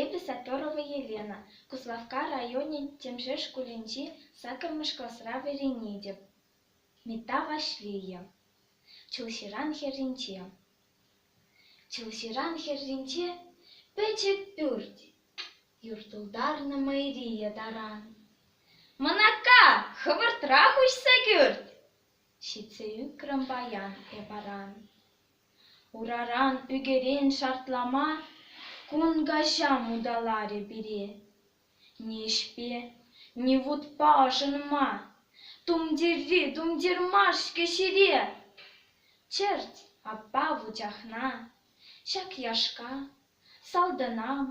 Эпӗ Саперова Елена, Куславкка районӗн Тӗмшер шкулӗнчи саккӑрмӗш класра вӗренетӗп. Митта Ваҫлейӗ, Чулҫыран хӗрринче. Чулҫыран хӗрринче пӗчӗк пӳрт, юр тултарнӑ мӑйрийӗ таран. «Мӑнака, хӑвӑртрах уҫса кӳрт!» ҫитсе ӳкрӗм паян эп аран. Ураран ӳкерен шартлама кун каҫа муталарӗ пире. Ниҫпе, ни вутпа ӑшӑнма, тумтирри тумтир мар-ҫке ҫире. Чӗрт, аппа вучахна, ҫак яшка, салтӑнам,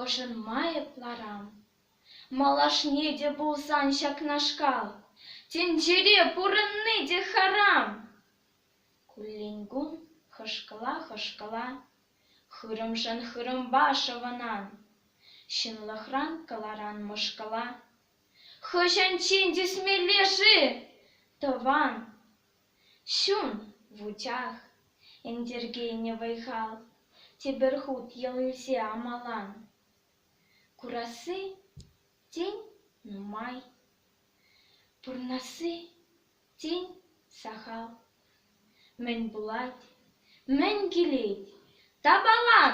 ӑшӑнма эп ларам. Малашне те пулсан ҫакнашкал, тӗнчере пурӑнни те харам. Куллен-кул хӑшкӑла-хӑшкӑла хырӑмшӑн хырӑмпа шӑвӑнан, ҫынлӑхран кӑларан мӑшкӑла. Хӑҫанччен тӳсмелле-ши тӑван чун вучах, ӗнтӗркенӗ вӑй-хал тепӗр хут йӑл илсе амалан? Курасси тен нумай, пурнасси Тен, сахал. Мӗн пулать? Мӗн килет? Тапалан!